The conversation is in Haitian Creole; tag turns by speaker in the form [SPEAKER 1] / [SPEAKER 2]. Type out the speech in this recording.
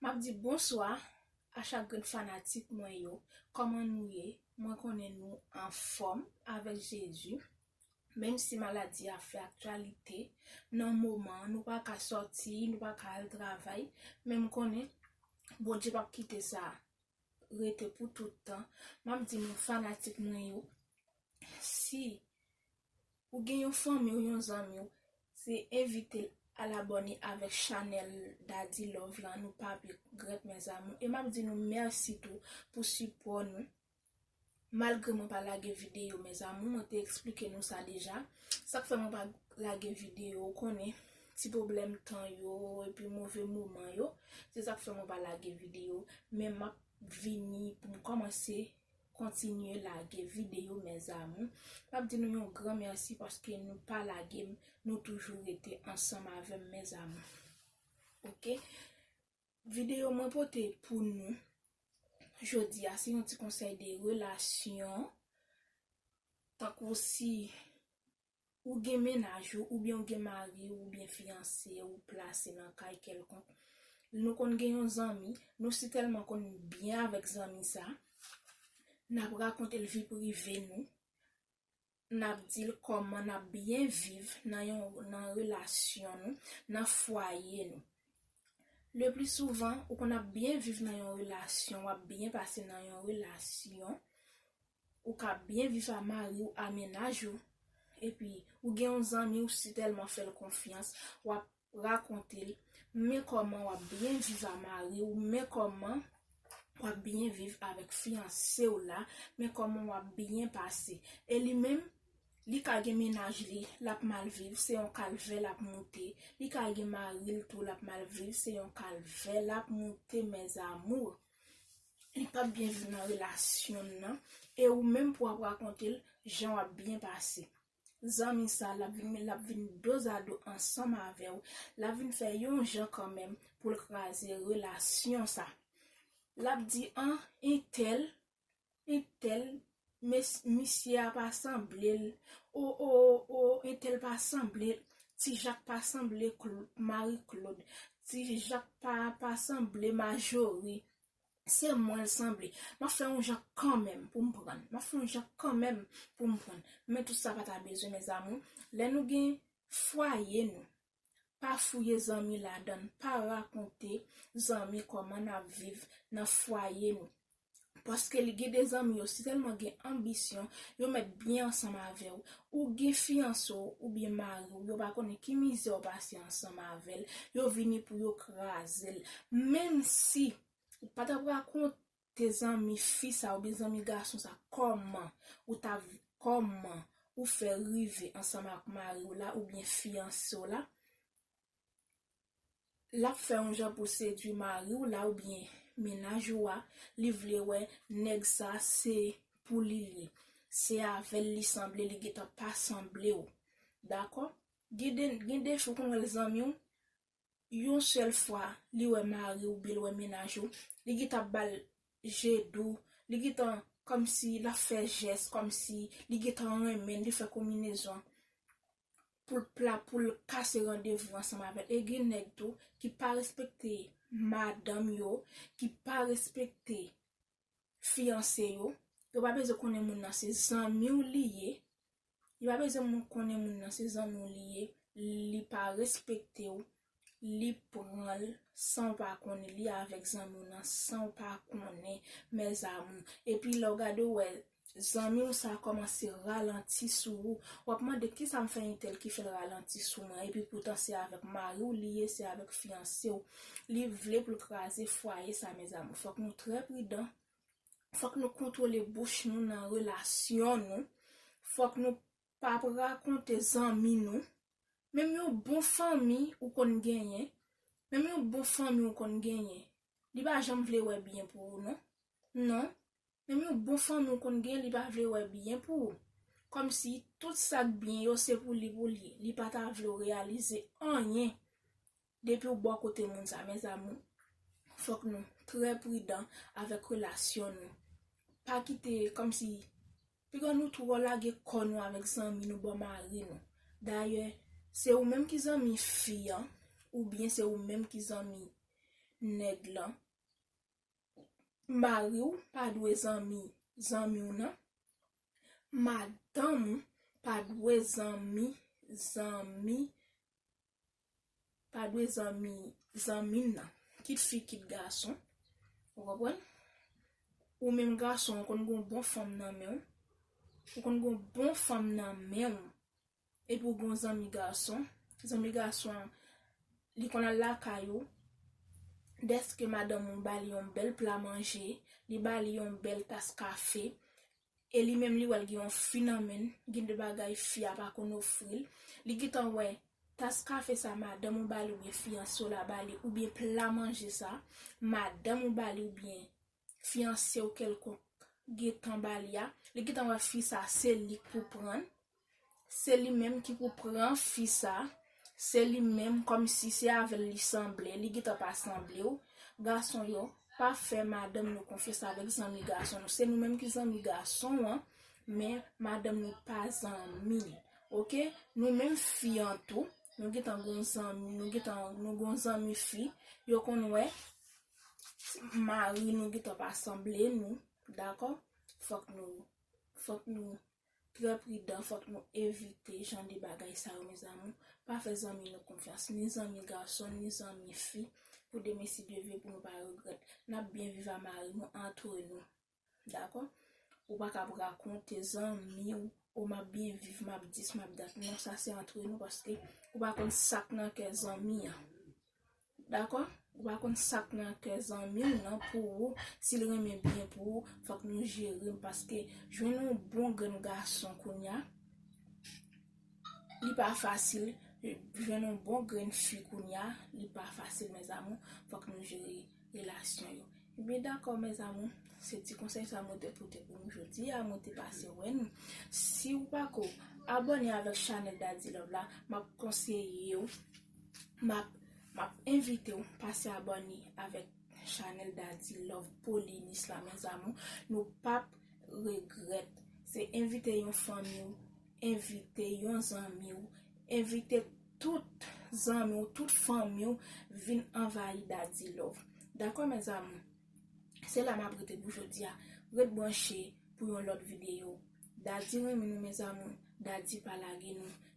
[SPEAKER 1] Map di bonswa a chak grenn fanatik mwen yo kòman nou ye mwen konnen nou anfòm avèk Jezi menm si maladi a fè aktyalite nan moman an nou paka sòti nou paka al travay men m konnen Bondye pap kite sa rete pou tout tan map di nou fanatik mwen yo si ou gen yon fanmi ou yon zanmi ou se envitel al abòne avèk chanèl Daddy Love lan nou pap regrèt mes amours e map di nou mèsi tou pou sipò nou Malgre mwen pa lage video mes amour mwen te explike nou sa deja sak fè mwen pa lage video ou konnen ti pwoblèm tan yo epi move moman yo se sak fè mwen pa lage video men map vini poum kòmanse kontinye lage video mes amour map di nou yon gran merci paske nou pa lagem nou toujou rete ansanm avèm mes amour ok. Video mwen pote pou nou jodi a se yon ti konsèy de relasyon tankou si ou gen mennaj ou oubyen ou gen mari ou oubyen fiyanse ou plase nan kay kèlkonk nou konn gen yon zanmi nou si tèlman konn byen avèk zanmi sa nap rakonte l vi prive nou nap dil kòman nap byen viv nan yon nan relasyon nou nan fwaye nou le pli souvan ou konn ap byen viv nan yon relasyon wap byen pase nan yon relasyon ou ka byen viv a mariw a mennaj ou epi ou gen yon zanmiw si tèlman fèl konfyans wap rakonte l men kòman wap byen viv a mari w men kòman wap byen viv avèk fiyanse w la men kòman wap byen pase e li menm li ka gen mennaj li lap mal viv se yon kalvè lap moute li ka gen mari l tou lap mal viv se yon kalvè lap moute mes amours li pap byen viv nan relasyon l nan e ou menm pou wap rakonte l jan wap byen pase. Zanmi sa lap vin men lap vin dozado ansanm avèw lap vin fè yon jan kanmenm poul kraze relasyon sa lap di an entèl entèl mes misye a pa sanblel o o o entèl pa sanble ti jak pa sanble klo mari klod ti jak pa pa sanble majori Se mwen l sanble. M ap fè yon jan kanmenm pou m pran l. M ap fè yon jan kanmenm pou m pran l. Men tout sa pa ta bezwen mezamou. Lè nou gen fwaye nou, pa fouye zanmi ladan l. Pa rakonte zanmi kòman n ap viv nan fwaye nou. Paske li gen de zanmi yo si tèlman gen anbisyon, yo mèt byen ansanm avè w. Ou gen fiyanse w oubyen mari w yo pa konnen ki mizè w pase ansanm avè l, yo vini pou yo kraze l. Menmsi ou pa t ap rakonte zanmi fi sa oubyen zanmi gason sa kòman ou t ap kòman ou fè rive ansanm ak mari w la oubyen fiyanse w la, lap fè yon jan pou sedwi mariw la oubyen mennaj ou a li vle wè nèg sa se pou li li se avèl li sanble li gentan pa sanblew dakò gen de gen de fwa ou konn wè zanmiw yon sèl fwa li wè mariw oubyen li wè mennaj ou li gentan ap bal je dou li gentan kòmsi lap fè jès kòmsi li gentan renmenl li fè konminezon poul t la poul kase randevou ansanm avèl e gen nèg tou ki pa respekte madanm yo ki pa respekte fiyanse yo yo pa bezwen konnen moun nan se zanmiw li ye yo pa bezwen moun konnen moun nan se zanmiw li ye li pa respektew li pranl sanw pa konnen li avèk zanmiw nan sanw pa konnen mes amour epi lèw gade ou wè zanmiw sa kòmanse ralanti sou ou wap mande kisam fè intèl ki fèl ralanti sou mwen epi poutan se avèk mariw li ye se avèk fiyansew li vle poul kraze fwaye sa mes amour fòk nou trè pridan fòk nou kontwole bouch nou nan relasyon nou fòk nou Pap rakonte zanmi nou. Menm yon bon fanmi ou konn genyen, menm yon bon fanmi ou konn genyen, li pa janm vle wè byen pou ou non. Non, menm yon bon fanmi ou konn genyen li pa vle wè byen pou ou. Kòmsi tout sa k byen yo se pou li pou li, li pa ta vle w reyalize anyen. Depiw bò kote moun sa mes amour fok nou trè pridan avek relasyon nou pa kite komsi piga nou trò lage kò nou avek zanmi nou bò mari nou dayè se ou menm ki zanmi fi an ou byen se ou menm ki zanmi nèg lan mariw pa dwe zanmi zanmiw nan madanm ou pa dwe zanmi zanmi pa dwe zanmi zanmi m nan, kit fi kit gason, ou konprann, ou menm gason ou konn gon bon fanm nan men w, ou konn gon bon fanm nan men w, epi ou gon zanmi gason, zanmi gason an li konn al lakay ou, dèske madanm ou ba li yon bèl pla manje, li ba li yon bèl tas kafe, E li menm li wèl gen yon fi nan menn, gen de bagay fi a pa konn ofril, li gentan wè tas kafe sa madanm ou bali oubyen fiyanse w la bali oubyen pla manje sa madanm ou bali oubyen fiyansew kèlkonk gentan bali a, li gentan wè fi sa se lik pou prann. Se li menm ki pou pran fi sa, se li menm kòmsi se avèl li sanble, li gentan pa sanblew, gason yo pa fè madanm nou konfyans avèk zanmi gason nou, se nou menm ki zanmi gason an, men madanm nou pa zanmi li ok, nou menm fi an tou nou gentan gon zanmi, nou gentan nou gon zanmi fi, yo konn wè mari nou gentan pa sanble nou dakò, fòk nou fòk nou. trè pridan fòk nou evite jan de bagay sa yo mes amour pa fè zanmi nou konfyans ni zanmi gason ni zanmi fi pou demen si Dieu veut pou nou pa regrèt nap byen viv a mari nou antre nou dakò ou paka ap rakonte zanmiw oh map byen viv map dis map dat non sa se antre nou paske ou pa konn sak nan kè zanmi an. Dakò? Ou pa konn sak nan kè zanmiw nan pou ou, sil renmen byen pou ou, fòk nou jerem paske jwenn yon bon grenn gason kounya li pa fasil, jwenn yon bon grenn fi kounya li pa fasil mes amour, fòk nou jere relasyon yo. Ebyen dakò mes amour, se ti konsèy sa mwen te pote pou nou jodi a, mwen te pase wè nou. Siw pako abòne avèk chanèl Dadilove la, map konseye ou Map map envitew pase abone avek chanel Daddy love Paulinis la mes amour nou pap regret se envite yon fanmiw envite yon zanmiw envite tout zanmiw tout fanmiw vin anvayi Daddy love dako mes amour se la map rete pou jodia ret branche pou yon lot video Daddy renmen nou mes amour Daddy pa lage nou.